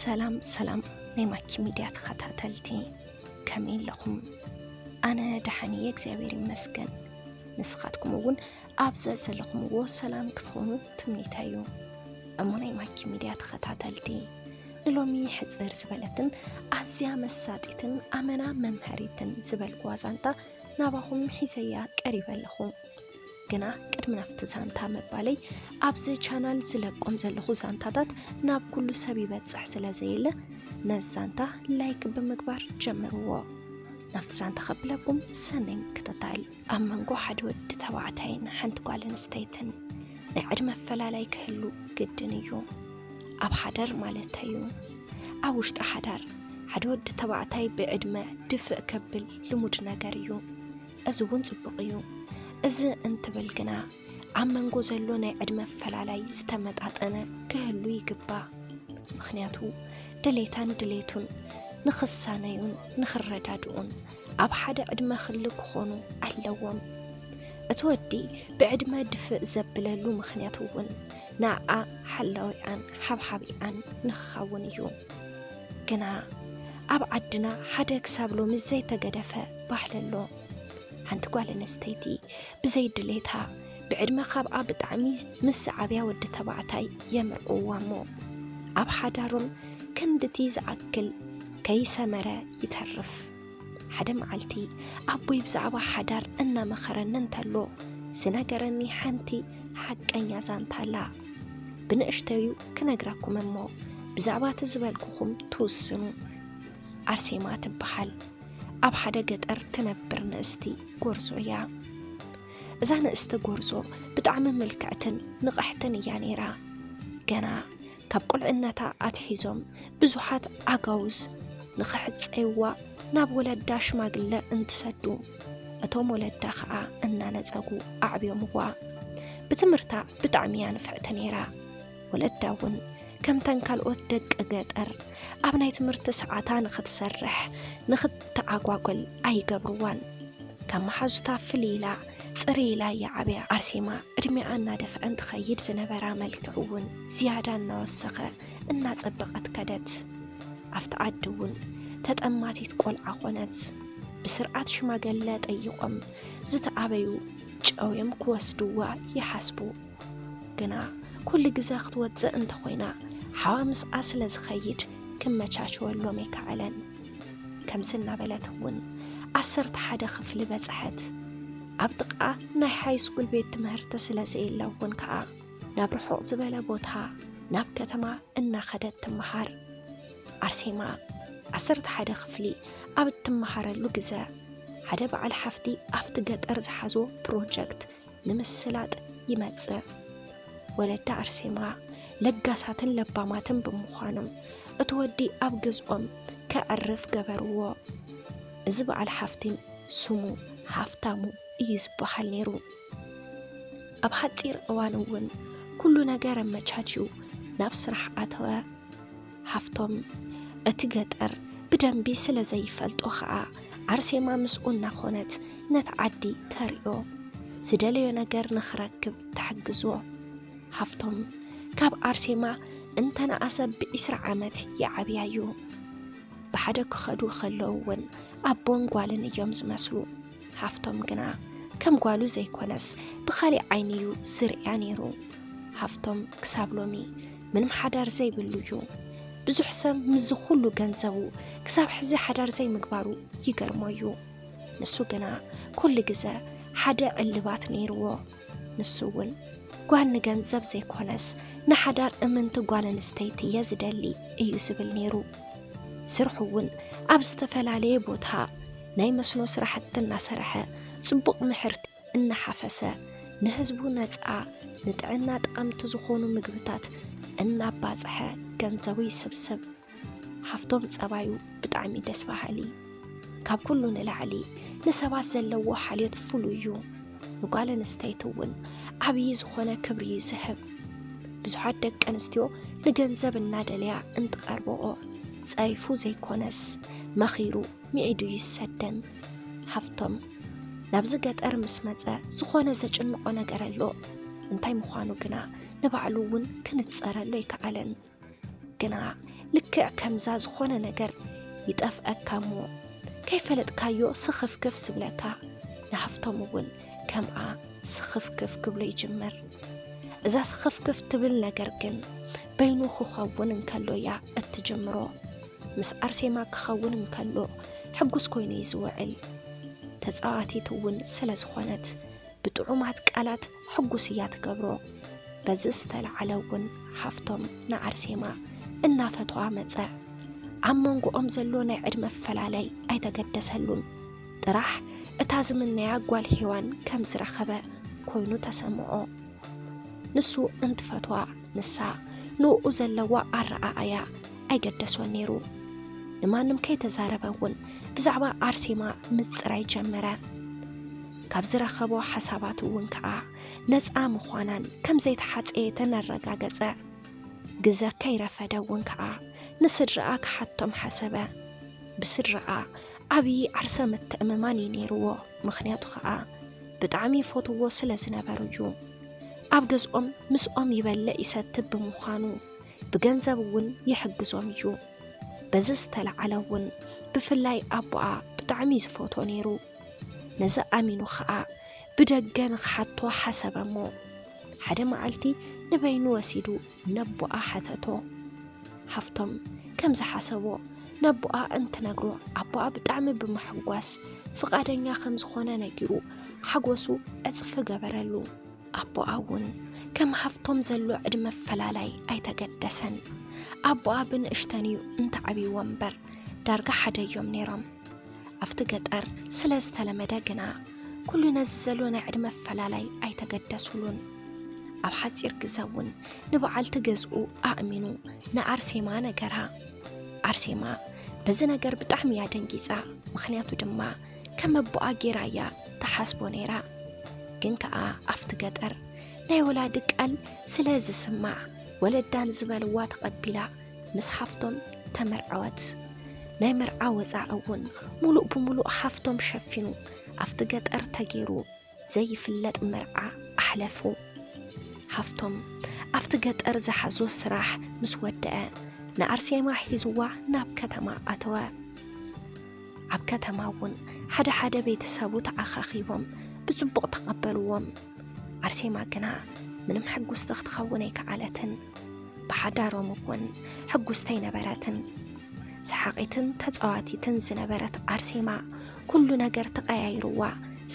ሰላም ሰላም ናይ ማኪ ሚድያ ተኸታተልቲ ከመይ ኣለኹም? ኣነ ደሓን እየ እግዚኣብሔር ይመስገን። ንስኻትኩም እውን ኣብ ዘዘለኹምዎ ሰላም ክትኾኑ ትምኒተይ እዩ። እሞ ናይ ማኪ ሚድያ ተኸታተልቲ ንሎሚ ሕፅር ዝበለትን ኣዝያ መሳጢትን ኣመና መምሀሪትን ዝበልኩዋ ዛንታ ናባኹም ሒዘያ ቀሪበ ኣለኹ። ግና ቅድሚ ናብቲ ዛንታ ምባለይ ኣብዚ ቻናል ዝለቆም ዘለኹ ዛንታታት ናብ ኩሉ ሰብ ይበፅሕ ስለ ዘየለ ነዚ ዛንታ ላይክ ብምግባር ጀምርዎ። ናብቲ ዛንታ ከብለኩም ሰናይ ምክትታል። ኣብ መንጎ ሓደ ወዲ ተባዕታይን ሓንቲ ጓል ኣንስተይትን ናይ ዕድመ ኣፈላላይ ክህሉ ግድን እዩ። ኣብ ሓዳር ማለት እዩ። ኣብ ውሽጢ ሓዳር ሓደ ወዲ ተባዕታይ ብዕድመ ድፍእ ከብል ልሙድ ነገር እዩ። እዚ እውን ጽቡቕ እዩ። እዚ እንትብል ግና ኣብ መንጎ ዘሎ ናይ ዕድመ ኣፈላላይ ዝተመጣጠነ ክህሉ ይግባእ። ምክንያቱ ድሌታን ድሌቱን ንክሳነዩን ንክረዳድኡን ኣብ ሓደ ዕድመ ክሊ ክኾኑ ኣለዎም። እቲ ወዲ ብዕድመ ድፍእ ዘብለሉ ምክንያት እውን ንኣ ሓላዊኣን ሓብሓቢኣን ንክኸውን እዩ። ግና ኣብ ዓድና ሓደ ክሳብ ሎሚ ዘይተገደፈ ባሕለሎ ሓንቲ ጓል ኣነስተይቲ ብዘይ ድሌታ ብዕድመ ካብኣ ብጣዕሚ ምስ ዝዓብያ ወዲ ተባዕታይ የምርዕዋ እሞ ኣብ ሓዳሮም ክንድቲ ዝኣክል ከይሰመረ ይተርፍ። ሓደ መዓልቲ ኣቦይ ብዛዕባ ሓዳር እናመኸረኒ እንተሎ ዝነገረኒ ሓንቲ ሓቀኛ ዛንታ ኣላ ብንእሽተዩ ክነግረኩም እሞ ብዛዕባ እቲ ዝበልኩኹም ትውስኑ ኣርሴማ ትበሃል ኣብ ሓደ ገጠር ትነብር ንእስቲ ጎርዞ እያ እዛ ንእስቲ ጎርዞ ብጣዕሚ ምልክዕትን ንቕሕትን እያ ነይራ ገና ካብ ቁልዕነታ ኣትሒዞም ብዙሓት ኣጋውዝ ንኽሕፀይዋ ናብ ወለዳ ሽማግለ እንትሰዱ እቶም ወለዳ ከዓ እናነፀጉ ኣዕብዮምዋ ብትምህርታ ብጣዕሚ እያ ንፍዕቲ ነይራ ወለዳ እውን ከምተን ካልኦት ደቂ ገጠር ኣብ ናይ ትምህርቲ ሰዓታ ንኽትሰርሕ ንኽትተዓጓጎል ኣይገብርዋን። ካብ መሓዙታ ፍልይ ኢላ ፅሪ ኢላ እያ ዓብያ። ኣርሴማ ዕድሜኣ እናደፍዐ እንትኸይድ ዝነበራ መልክዕ እውን ዝያዳ እናወሰኸ እናፀበቐት ከደት። ኣብቲ ዓዲ እውን ተጠማቲት ቆልዓ ኮነት። ብስርዓት ሽማገለ ጠይቆም ዝተኣበዩ ጨውዮም ክወስድዋ ይሓስቡ። ግና ኩሉ ግዘ ክትወፅእ እንተኾይና ሓዋ ምስኣ ስለ ዝኸይድ ክመቻችወሎም ኣይከኣለን። ከምዚ እናበለት እውን ዓሰርተ ሓደ ክፍሊ በፅሐት። ኣብ ጥቃ ናይ ሃይስኩል ቤት ትምህርቲ ስለ ዘየለ እውን ከዓ ናብ ርሑቕ ዝበለ ቦታ ናብ ከተማ እናኸደት ትመሃር። ኣርሴማ ዓሰርተ ሓደ ክፍሊ ኣብ እትመሃረሉ ግዘ ሓደ በዓል ሓፍቲ ኣብቲ ገጠር ዝሓዞ ፕሮጀክት ንምስላጥ ይመጽእ። ወለዳ ኣርሴማ ለጋሳትን ለባማትን ብምዃኖም እቲ ወዲ ኣብ ገዝኦም ከዕርፍ ገበርዎ። እዚ በዓል ሓፍቲን ስሙ ሃፍታሙ እዩ ዝበሃል ነይሩ። ኣብ ሓፂር እዋን እውን ኩሉ ነገር ኣመቻችዩ ናብ ስራሕ ኣተወ። ሃፍቶም እቲ ገጠር ብደንቢ ስለ ዘይፈልጦ ኸኣ ኣርሴማ ምስኡ እናኾነት ነቲ ዓዲ ተርእዮ ዝደለዮ ነገር ንኽረክብ ተሕግዞ። ሃፍቶም ካብ ኣርሴማ እንተነኣሰ ብዒስራ ዓመት ይዓብያ እዩ። ብሓደ ክኸዱ ከለዉ እውን ኣቦን ጓልን እዮም ዝመስሉ። ሃፍቶም ግና ከም ጓሉ ዘይኮነስ ብኻሊእ ዓይኒ እዩ ዝርእያ ነይሩ። ሃፍቶም ክሳብ ሎሚ ምንም ሓዳር ዘይብሉ እዩ። ብዙሕ ሰብ ምስዚ ኩሉ ገንዘቡ ክሳብ ሕዚ ሓዳር ዘይምግባሩ ይገርሞ እዩ። ንሱ ግና ኩሉ ግዘ ሓደ ዕልባት ነይርዎ። ንሱ እውን ጓል ንገንዘብ ዘይኮነስ ንሓዳር እምንቲ ጓል ኣንስተይቲ እየ ዝደሊ እዩ ዝብል ነይሩ። ስርሑ እውን ኣብ ዝተፈላለየ ቦታ ናይ መስኖ ስራሕቲ እናሰርሐ ፅቡቕ ምሕርቲ እናሓፈሰ ንህዝቡ ነፃ ንጥዕና ጠቐምቲ ዝኾኑ ምግብታት እናባፀሐ ገንዘቡ ይስብስብ። ሃፍቶም ፀባዩ ብጣዕሚ ደስ በሃሊ ካብ ኩሉ ንላዕሊ ንሰባት ዘለዎ ሓልዮት ፍሉይ እዩ ንጓል ኣንስተይቲ እውን ዓብዪ ዝኾነ ክብሪ እዩ ዝህብ ብዙሓት ደቂ ኣንስትዮ ንገንዘብ እናደለያ እንትቐርበኦ ፀሪፉ ዘይኮነስ መኺሩ ሚዒዱ ይሰደን ሃፍቶም ናብዚ ገጠር ምስ መጸ ዝኾነ ዘጭንቆ ነገር ኣሎ እንታይ ምዃኑ ግና ንባዕሉ እውን ክንጸረሉ ኣይከኣለን ግና ልክዕ ከምዛ ዝኾነ ነገር ይጠፍአካ እሞ ከይፈለጥካዮ ስኽፍክፍ ስብለካ ንሃፍቶም እውን ከምኣ ስኽፍክፍ ክብሎ ይጅምር እዛ ስኽፍክፍ ትብል ነገር ግን በይኑ ክኸውን እንከሎ እያ እትጅምሮ። ምስ ኣርሴማ ክኸውን እንከሎ ሕጉስ ኮይኑ እዩ ዝውዕል። ተፃዋቲት እውን ስለ ዝኾነት ብጥዑማት ቃላት ሕጉስ እያ ትገብሮ። በዚ ዝተለዓለ እውን ሃፍቶም ንኣርሴማ እናፈተዋ መፀ። ኣብ መንጎኦም ዘሎ ናይ ዕድመ ፈላለይ ኣይተገደሰሉን። ጥራሕ እታ ዝምነያ ጓል ሄዋን ከም ዝረኸበ ኮይኑ ተሰምዖ። ንሱ እንትፈትዋ ንሳ ንእኡ ዘለዋ ኣረኣእያ ኣይገደሶን ነይሩ። ንማንም ከይተዛረበ እውን ብዛዕባ ኣርሴማ ምጽራይ ጀመረ። ካብ ዝረኸቦ ሓሳባት እውን ከኣ ነፃ ምዃናን ከም ዘይተሓፀየተን ኣረጋገጸ። ግዘ ከይረፈደ እውን ከኣ ንስድራኣ ክሓቶም ሓሰበ። ብስድራኣ ዓብዪ ዓርሰ ምትእምማን እዩ ነይርዎ። ምክንያቱ ከኣ ብጣዕሚ ይፈትዎ ስለ ዝነበሩ እዩ። ኣብ ገዝኦም ምስኦም ይበልዕ ይሰትብ ብምዃኑ ብገንዘብ እውን ይሕግዞም እዩ በዚ ዝተለዓለ እውን ብፍላይ ኣቦኣ ብጣዕሚ ዝፈቶ ነይሩ ነዚ ኣሚኑ ከዓ ብደገ ንክሓቶ ሓሰበ እሞ ሓደ መዓልቲ ንበይኑ ወሲዱ ነቦኣ ሓተቶ። ሃፍቶም ከም ዝሓሰቦ ነቦኣ እንትነግሮ ኣቦኣ ብጣዕሚ ብምሕጓስ ፍቓደኛ ከም ዝኾነ ነጊሩ ሓጎሱ ዕጽፊ ገበረሉ። ኣቦኣ እውን ከም ሃፍቶም ዘሎ ዕድመ ኣፈላላይ ኣይተገደሰን። ኣቦኣ ብንእሽተን እዩ እንተዓብይዎ እምበር ዳርጋ ሓደ እዮም ነይሮም። ኣብቲ ገጠር ስለ ዝተለመደ ግና ኩሉ ነዚ ዘሎ ናይ ዕድመ ኣፈላላይ ኣይተገደሱሉን። ኣብ ሓፂር ግዘ እውን ንበዓልቲ ገዝኡ ኣእሚኑ ንኣርሴማ ነገራ። ኣርሴማ በዚ ነገር ብጣዕሚ እያ ደንጊፃ። ምክንያቱ ድማ ከም ኣቦኣ ጌራ እያ ተሓስቦ ነይራ። ግን ከዓ ኣብቲ ገጠር ናይ ወላዲ ቃል ስለ ዝስማዕ ወለዳን ዝበልዋ ተቐቢላ ምስ ሓፍቶም ተመርዐወት። ናይ መርዓ ወፃኢ እውን ሙሉእ ብሙሉእ ሓፍቶም ሸፊኑ ኣብቲ ገጠር ተገይሩ ዘይፍለጥ መርዓ ኣሕለፉ። ሓፍቶም ኣብቲ ገጠር ዝሓዞ ስራሕ ምስ ወደአ ንኣርሴማ ሒዝዋ ናብ ከተማ ኣተወ። ኣብ ከተማ እውን ሓደ ሓደ ቤተሰቡ ተኣኻኺቦም ብፅቡቕ ተቐበልዎም። ኣርሴማ ግና ምንም ሕጉስቲ ክትኸውን ኣይከኣለትን። ብሓዳሮም እውን ሕጉስቲ ኣይነበረትን። ሰሓቒትን ተጻዋቲትን ዝነበረት ኣርሴማ ኩሉ ነገር ተቐያይርዋ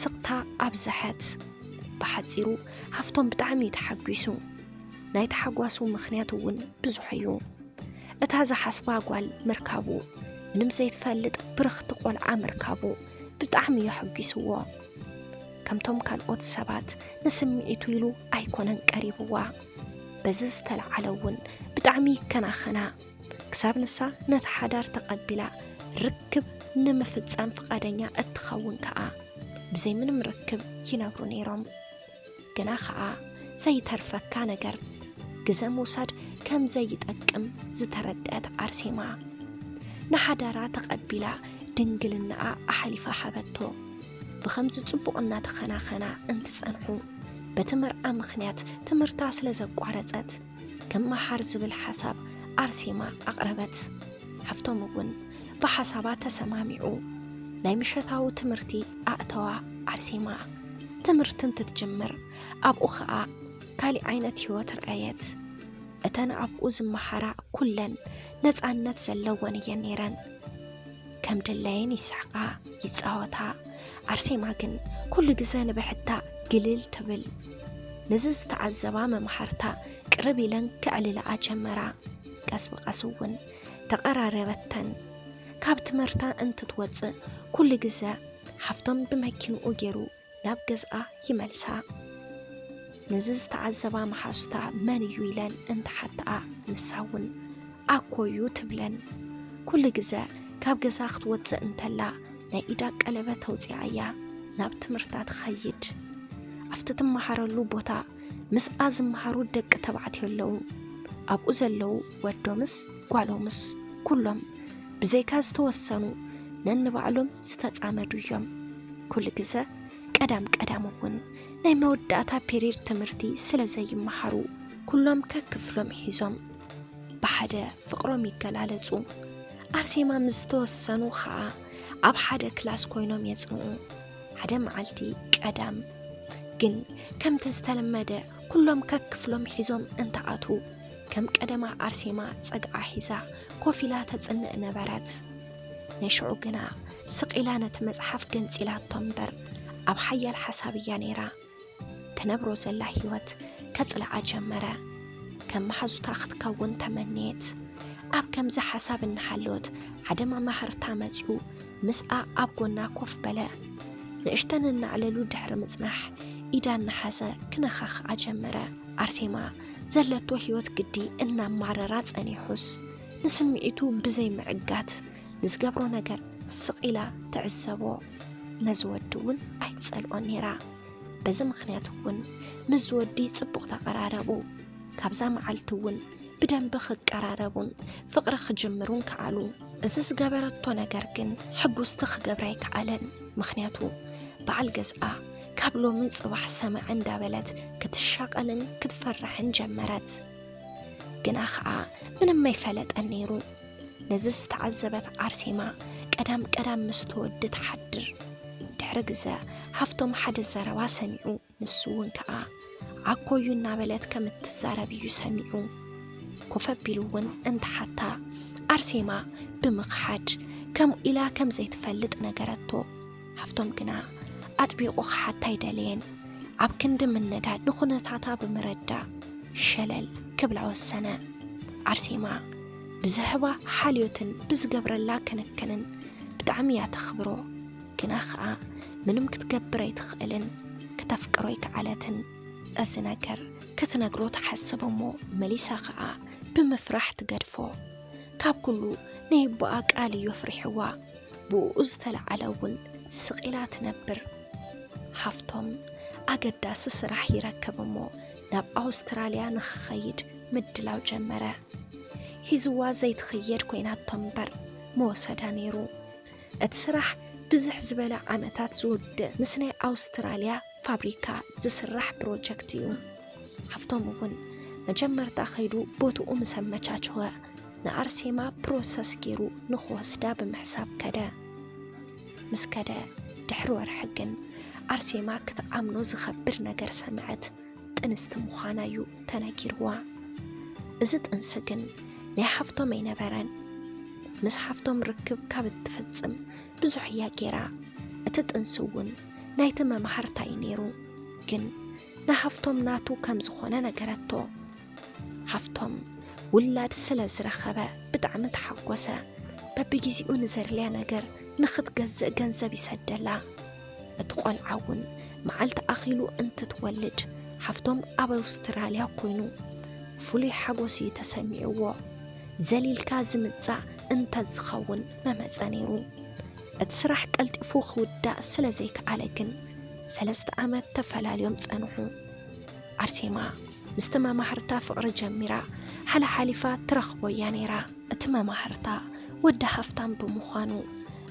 ስቕታ ኣብዝሐት። ብሓጺሩ ሃፍቶም ብጣዕሚ እዩ ተሓጒሱ። ናይ ተሓጓሱ ምኽንያት እውን ብዙሕ እዩ። እታ ዝሓስባ ጓል ምርካቡ፣ ምንም ዘይትፈልጥ ብርኽቲ ቆልዓ ምርካቡ ብጣዕሚ እዩ ኣሐጒስዎ። ከምቶም ካልኦት ሰባት ንስምዒቱ ኢሉ ኣይኮነን ቀሪብዋ። በዚ ዝተለዓለ እውን ብጣዕሚ ይከናኸና። ክሳብ ንሳ ነቲ ሓዳር ተቐቢላ ርክብ ንምፍፃም ፍቓደኛ እትኸውን ከዓ ብዘይ ምንም ርክብ ይነብሩ ነይሮም። ግና ከዓ ዘይተርፈካ ነገር ግዘ ምውሳድ ከም ዘይጠቅም ዝተረድአት ኣርሴማ ንሓዳራ ተቐቢላ ድንግልናኣ ኣሕሊፋ ሃበቶ። ብኸምዚ ጽቡቕ እናተኸናኸና እንትጸንሑ በቲ መርዓ ምኽንያት ትምህርታ ስለ ዘቋረጸት ክመሃር ዝብል ሓሳብ ኣርሴማ ኣቕረበት። ሃፍቶም እውን ብሓሳባ ተሰማሚዑ ናይ ምሸታዊ ትምህርቲ ኣእተዋ። ኣርሴማ ትምህርቲ እንትትጅምር ኣብኡ ኸኣ ካሊእ ዓይነት ህይወት ርኣየት። እተን ኣብኡ ዝመሃራ ኩለን ነፃነት ዘለወን እየን ነይረን። ከም ድላየን ይስሕቃ ይፃወታ ኣርሴማ ግን ኩሉ ግዘ ንብሕታ ግልል ትብል ነዚ ዝተዓዘባ መምሃርታ ቅርብ ኢለን ክዕልላኣ ጀመራ ቀስ ብቀስ እውን ተቐራረበተን ካብ ትምህርታ እንትትወፅእ ኩሉ ግዘ ሓፍቶም ብመኪንኡ ገይሩ ናብ ገዝኣ ይመልሳ። ነዚ ዝተዓዘባ መሓዙታ መን እዩ ኢለን እንተሓተኣ ንሳ እውን ኣኮ እዩ ትብለን። ኩሉ ግዘ ካብ ገዛ ክትወፅእ እንተላ ናይ ኢዳ ቀለበት ተውፅኣ እያ ናብ ትምህርታ ትኸይድ። ኣብቲ ትመሃረሉ ቦታ ምስኣ ዝመሃሩ ደቂ ተባዕትዮ ኣለዉ። ኣብኡ ዘለዉ ወዶምስ ጓሎምስ ኩሎም ብዘይካ ዝተወሰኑ ነንባዕሎም ዝተፃመዱ እዮም ኩሉ ግዘ ቀዳም ቀዳም እውን ናይ መወዳእታ ፔሪድ ትምህርቲ ስለ ዘይመሃሩ ኩሎም ከክፍሎም ሒዞም ብሓደ ፍቕሮም ይገላለጹ። ኣርሴማ ምስ ዝተወሰኑ ከዓ ኣብ ሓደ ክላስ ኮይኖም የጽንኡ። ሓደ መዓልቲ ቀዳም ግን ከምቲ ዝተለመደ ኩሎም ከክፍሎም ሒዞም እንተኣትዉ ከም ቀደማ ኣርሴማ ጸግዓ ሒዛ ኮፍ ኢላ ተጽንእ ነበረት። ንሽዑ ግና ስቕ ኢላ ነቲ መጽሓፍ ገንጺላቶ እምበር ኣብ ሓያል ሓሳብ እያ ነይራ። ትነብሮ ዘላ ህይወት ከጽልኣ ጀመረ። ከም መሓዙታ ክትከውን ተመነየት። ኣብ ከምዚ ሓሳብ እናሃለወት ሓደ መማህርታ መጺኡ ምስኣ ኣብ ጎና ኮፍ በለ። ንእሽተን እናዕለሉ ድሕሪ ምጽናሕ ኢዳ እናሓዘ ክነኻኽኣ ጀመረ። ኣርሴማ ዘለቶ ህይወት ግዲ እናማረራ ጸኒሑስ ንስምዒቱ ብዘይ ምዕጋት ንዝገብሮ ነገር ስቕ ኢላ ትዕዘቦ። ነዚ ወዲ እውን ኣይትጸልኦን ነይራ። በዚ ምክንያት እውን ምስ ዝወዲ ጽቡቕ ተቐራረቡ። ካብዛ መዓልቲ እውን ብደንቢ ክቀራረቡን ፍቕሪ ክጅምሩን ከኣሉ። እዚ ዝገበረቶ ነገር ግን ሕጉስቲ ክገብራ ኣይከኣለን። ምክንያቱ በዓል ገዝኣ ካብ ሎሚ ጽባሕ ሰማዕ እንዳበለት ክትሻቐልን ክትፈርሕን ጀመረት። ግና ከኣ ምንም ኣይፈለጠን ነይሩ። ነዚ ዝተዓዘበት ኣርሴማ ቀዳም ቀዳም ምስ ተወዲ ትሓድር። ድሕሪ ግዘ ሃፍቶም ሓደ ዘረባ ሰሚዑ። ንሱ እውን ከዓ ዓኮዩ እናበለት ከም እትዛረብ እዩ ሰሚዑ። ኮፍ ኣቢሉ እውን እንተሓታ ኣርሴማ ብምኽሓድ ከምኡ ኢላ ከም ዘይትፈልጥ ነገረቶ። ሃፍቶም ግና ኣጥቢቑ ክሓታ ኣይደለየን። ኣብ ክንዲ ምነዳ ንኹነታታ ብምረዳ ሸለል ክብላ ወሰነ። ኣርሴማ ብዝህባ ሓልዮትን ብዝገብረላ ክንክንን ብጣዕሚ እያ ተኽብሮ። ግና ኸኣ ምንም ክትገብር ኣይትኽእልን፣ ክተፍቅሮ ኣይከኣለትን። እዚ ነገር ክትነግሮ ትሓስብ እሞ መሊሳ ኸኣ ብምፍራሕ ትገድፎ። ካብ ኩሉ ናይ ኣቦኣ ቃል እዩ ኣፍሪሕዋ፣ ብእኡ ዝተለዓለ እውን ስቕ ኢላ ትነብር። ሃፍቶም ኣገዳሲ ስራሕ ይረክብ እሞ ናብ ኣውስትራልያ ንኽኸይድ ምድላው ጀመረ። ሒዝዋ ዘይትኽየድ ኮይናቶ እምበር ምወሰዳ ነይሩ። እቲ ስራሕ ብዝሕ ዝበለ ዓመታት ዝውድእ ምስ ናይ ኣውስትራልያ ፋብሪካ ዝስራሕ ፕሮጀክት እዩ። ሃፍቶም እውን መጀመርታ ከይዱ ቦትኡ ምስ ኣመቻቸወ ንኣርሴማ ፕሮሰስ ገይሩ ንክወስዳ ብምሕሳብ ከደ። ምስ ከደ ድሕሪ ወርሒ ግን ኣርሴማ ክትኣምኖ ዝኸብድ ነገር ሰምዐት። ጥንስቲ ምዃና እዩ ተነጊርዋ። እዚ ጥንሲ ግን ናይ ሓፍቶም ኣይነበረን። ምስ ሓፍቶም ርክብ ካብ እትፍጽም ብዙሕ እያ ጌራ። እቲ ጥንሲ እውን ናይቲ መማህርታ እዩ ነይሩ። ግን ንሃፍቶም ናቱ ከም ዝኾነ ነገረቶ። ሃፍቶም ውላድ ስለ ዝረኸበ ብጣዕሚ ተሓጎሰ። በብጊዜኡ ንዘድልያ ነገር ንኽትገዝእ ገንዘብ ይሰደላ። እቲ ቆልዓ እውን መዓልቲ ኣኺሉ እንትትወልድ ሓፍቶም ኣብ ኣውስትራልያ ኮይኑ ፍሉይ ሓጎስ እዩ ተሰሚዕዎ ዘሊልካ ዝምጻእ እንተዝኸውን መመጸ ነይሩ እቲ ስራሕ ቀልጢፉ ክውዳእ ስለ ዘይከኣለ ግን ሰለስተ ዓመት ተፈላልዮም ጸንሑ ኣርሴማ ምስቲ መማህርታ ፍቕሪ ጀሚራ ሓላሓሊፋ ትረኽቦ እያ ነይራ። እቲ መማህርታ ወዲ ሃፍታም ብምዃኑ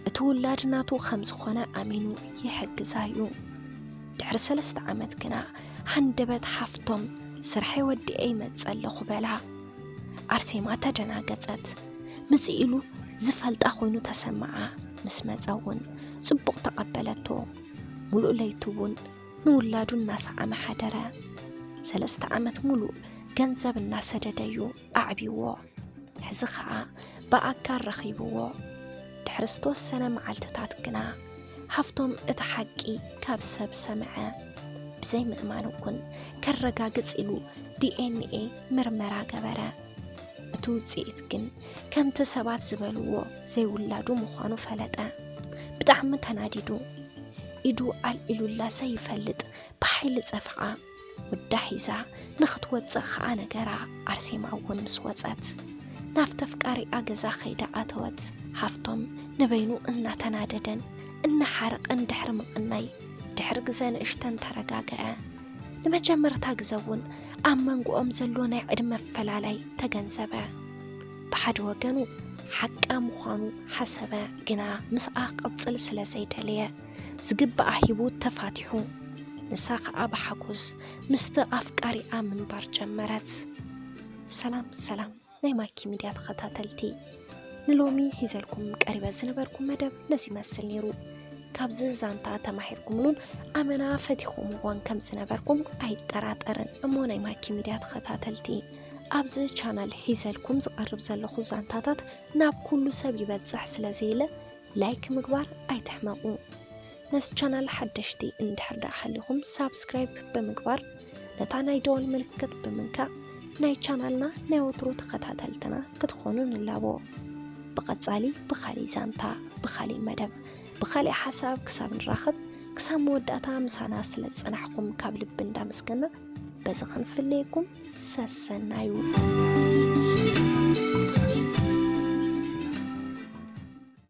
እቲ ውላድ ናቱ ከም ዝኾነ ኣሚኑ ይሕግዛ እዩ። ድሕሪ ሰለስተ ዓመት ግና ሃንደበት ሓፍቶም ስርሐይ ወዲኤ ይመጽእ ኣለኹ በላ። ኣርሴማ ተደናገጸት። ምጽእ ኢሉ ዝፈልጣ ኮይኑ ተሰምዓ። ምስ መጸ እውን ጽቡቕ ተቐበለቶ። ሙሉእ ለይቲ እውን ንውላዱ እናሰዓመ ሓደረ። ሰለስተ ዓመት ሙሉእ ገንዘብ እናሰደደ እዩ ኣዕቢዎ። ሕዚ ከዓ ብኣካል ረኺብዎ። ድሕሪ ዝተወሰነ መዓልትታት ግና ሃፍቶም እቲ ሓቂ ካብ ሰብ ሰምዐ። ብዘይ ምእማን እውን ከረጋግፅ ኢሉ ዲኤንኤ ምርመራ ገበረ። እቲ ውፅኢት ግን ከምቲ ሰባት ዝበልዎ ዘይውላዱ ምዃኑ ፈለጠ። ብጣዕሚ ተናዲዱ ኢዱ ኣልዒሉላሰ ይፈልጥ ብሓይሊ ፀፍዓ ወዳ ሒዛ ንክትወፅእ ከዓ ነገራ። ኣርሴማ እውን ምስ ወፀት ናብ ተፍቃሪኣ ገዛ ከይዳ ኣተወት። ሃፍቶም ንበይኑ እናተናደደን እናሓረቐን ድሕሪ ምቕናይ ድሕሪ ግዘ ንእሽተን ተረጋገዐ። ንመጀመርታ ግዘ እውን ኣብ መንጎኦም ዘሎ ናይ ዕድመ ኣፈላላይ ተገንዘበ። ብሓደ ወገኑ ሓቃ ምዃኑ ሓሰበ፣ ግና ምስኣ ክቕጽል ስለ ዘይደለየ ዝግባኣ ሂቡ ተፋቲሑ። ንሳ ከዓ ብሓጎስ ምስቲ ኣፍቃሪኣ ምንባር ጀመረት። ሰላም ሰላም ናይ ማይኪ ሚድያ ተኸታተልቲ ንሎሚ ሂዘልኩም ቀሪበ ዝነበርኩ መደብ ነዚ ይመስል ነይሩ። ካብዚ ዛንታ ተማሂርኩምሉን ኣመና ፈቲኹምዎን ከም ዝነበርኩም ኣይጠራጠርን እሞ ናይ ማኪ ሚድያ ተኸታተልቲ ኣብዚ ቻናል ሒዘልኩም ዝቐርብ ዘለኹ ዛንታታት ናብ ኩሉ ሰብ ይበፅሕ ስለ ዘየለ ላይክ ምግባር ኣይትሕመቑ። ነስ ቻናል ሓደሽቲ እንድሕር ደኣ ሃሊኹም ሳብስክራይብ ብምግባር ነታ ናይ ደወል ምልክት ብምንካእ ናይ ቻናልና ናይ ወትሩ ተኸታተልትና ክትኾኑ ንላቦ። ብቐጻሊ ብኻሊእ ዛንታ፣ ብኻሊእ መደብ፣ ብኻሊእ ሓሳብ ክሳብ ንራኸብ ክሳብ መወዳእታ ምሳና ስለ ዝጸናሕኩም ካብ ልቢ እንዳመስገና በዚ ክንፍለየኩም ሰሰናዩ